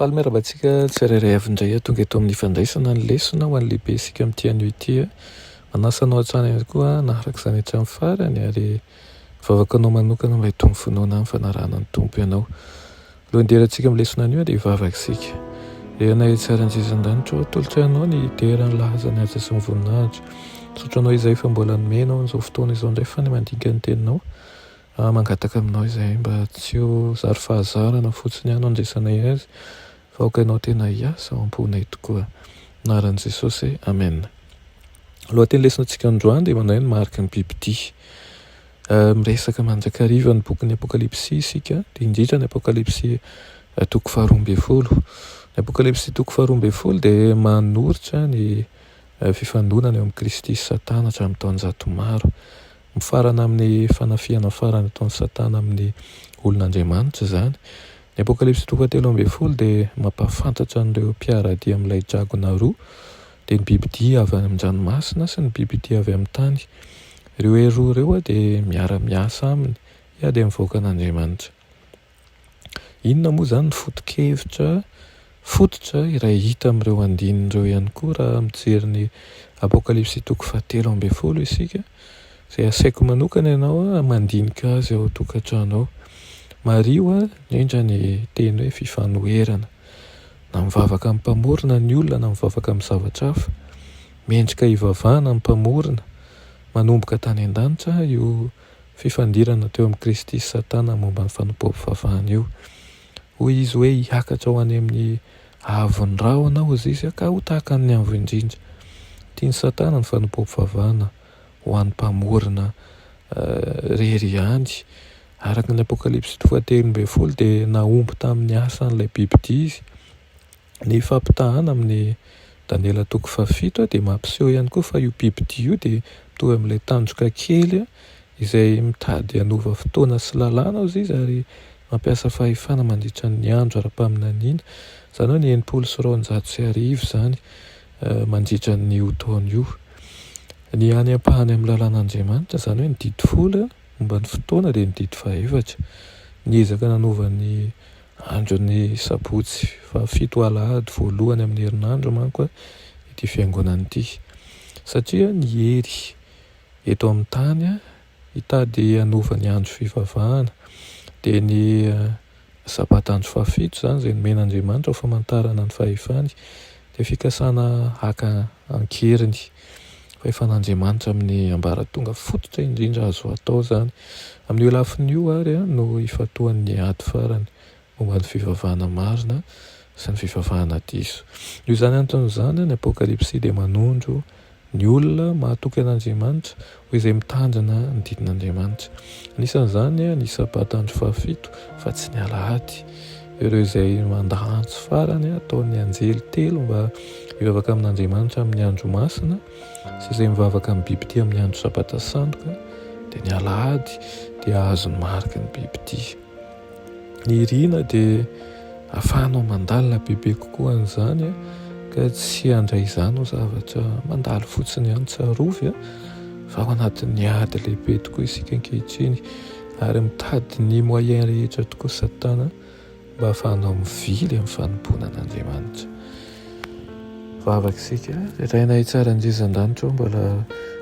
Faly miarahaba antsika tsirairay avy indray tonga eto amin'ny fandraisana ny lesona ho an'ny lehibe isika amin'ity anio ity. Manasa anao hatrany ihany koa naharaka izany hatramin'ny farany ary vavaka anao manokana mba hitony finoana amin'ny fanarahana ny Tompo ianao. Alohan'ny hiderantsika amin'ny lesona anio dia hivavaka isika. Ry Anay etsy an-danitra ô, tolotra Anao ny hidera ny lahaza ny asa sy ny voninahitra. Misaotra Anao izay fa mbola nomenao an'izao fotoana izao indray fa ny mandinika ny Teninao. Ary mangataka aminao izay mba tsy ho zary fahazarana fotsiny ihany no andraisanay azy fa aoka Ianao tena hiasa ao am-ponay tokoa. Anaran'i Jesosy, Amena. Ny lohatenin'ny lesonatsika androany dia mandray ny mariky ny bibidia. Miresaka mandrakariva ny bokin'ny Apokalypsy isika, dia indrindra ny Apokalypsy toko faharoa ambin'ny folo. Ny Apokalypsy toko faharoa ambin'ny folo dia manoritra ny fifandonana eo amin'i Kristy sy Satana hatramin'ny taonjato maro. Mifarana amin'ny fanafihana farany ataon'i Satana amin'ny olon'Andriamanitra izany. Ny Apokalypsy toko fahatelo ambin'ny folo dia mampahafantatra an'ireo mpiara-dia amin'ilay dragona roa dia ny bibidia avy any amin-dranomasina sy ny bibidia avy amin'ny tany. Ireo hery roa ireo dia miara-miasa aminy hiady amin'ny vahoakan'Andriamanitra. Inona moa izany ny foto-kevitra fototra iray hita amin'ireo andininy ireo ihany koa raha mijery ny Apokalypsy toko fahatelo ambin'ny folo isika, izay asaiko manokana ianao hamandinika azy ao an-tokantrano ao. Mariho indrindra ny teny hoe fifanoherana. Na mivavaka amin'ny Mpamorona ny olona na mivavaka amin'ny zavatra hafa, mendrika hivavahana ny Mpamorona. Manomboka tany an-danitra io fifandirana teo amin'i Kristy sy Satana momba ny fanompoam-pivavahana io. Hoy izy hoe, Hiakatra ho any amin'ny haavon'ny rahona aho, hoy Zizy, ka ho tahaka ny Avo Indrindra. Tian'i Satana ny fanompoam-pivavahana. ho an'ny Mpamorona irery ihany. Araka ny Apokalypsy toko fahatelo ambin'ny folo dia nahomby tamin'ny asany ilay bibidia izy. Ny fampitahana amin'ny Daniela toko fahafito dia mampiseho ihany koa fa io bibidia io dia mitovy amin'ilay tandroka kely izay mitady hanova fotoana sy lalàna hozy izy ary mampiasa fahefana mandritra ny andro ara-paminaniana. Izany hoe ny enimpolo sy roanjato sy arivo izany. mandritra an'io taona io. Ny any ampahany amin'ny lalàn'Andriamanitra, izany hoe ny didy folo momba ny fotoana, dia ny didy fahefatra. Ny ezaka nanova ny andron'ny sabotsy fahafito ho alahady voalohany amin'ny herinandro manko ity fiangonana ity, satria ny hery eto amin'ny tany, Hitady hanova ny andro fivavahana. Dia ny Sabata andro fahafito izany izay nomen'Andriamanitra ho famantarana ny fahefany. Dia fikasana haka an-keriny fahefan'Andriamanitra amin'ny ambaratonga fototra indrindra azo atao izany. Amin'io lafiny io àry no ifantohan'ny ady farany ho an'ny fivavahana marina sy ny fivavahana diso. Noho izany antony izany, ny Apokalypsy dia manondro ny olona mahatoky an'Andriamanitra ho izay mitandrina ny didin'Andriamanitra. Anisan'izany ny Sabata andro fahafito, fa tsy ny Alahady. Ireo izay mandà antso farany ataon'ny anjely telo mba hivavaka amin'Andriamanitra amin'ny andro masina sy izay mivavaka amin'ny bibidia amin'ny andro Sabata sandoka, dia ny Alahady dia hahazo ny mariky ny bibidia. Ny irina dia afahanao mandalina bebe kokoa an'izany a, ka tsy handray izany ho zavatra mandalo fotsiny ihany, tsarovy a, fa ao anatin'ny ady lehibe tokoa isika ankehitriny, ary mitady ny moyen rehetra tokoa satana mba afahanao mivily amin'ny fanompoana an'Andriamanitra. Vavaka isika, Ray Rainay tsara indrindra Andriandanitra ô, mbola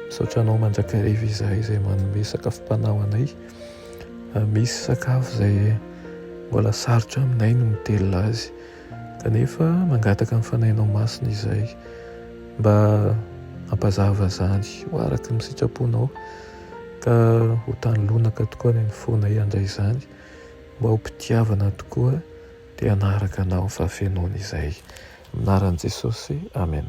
misaotra Anao mandrakariva izahay izay manome sakafom-panahy ho anay, Misy sakafo izay mbola sarotra aminay ny mitelina azy kanefa mangataka ny Fanahinao Masina izay mba hampazava izany ho araka ny sitraponao ka ho tany lonaka tokoa ny fonay handray izany mba ho mpitiavana tokoa te hanaraka Anao fa fenoina izay. Amin'ny anaran'i Jesosy, Amen.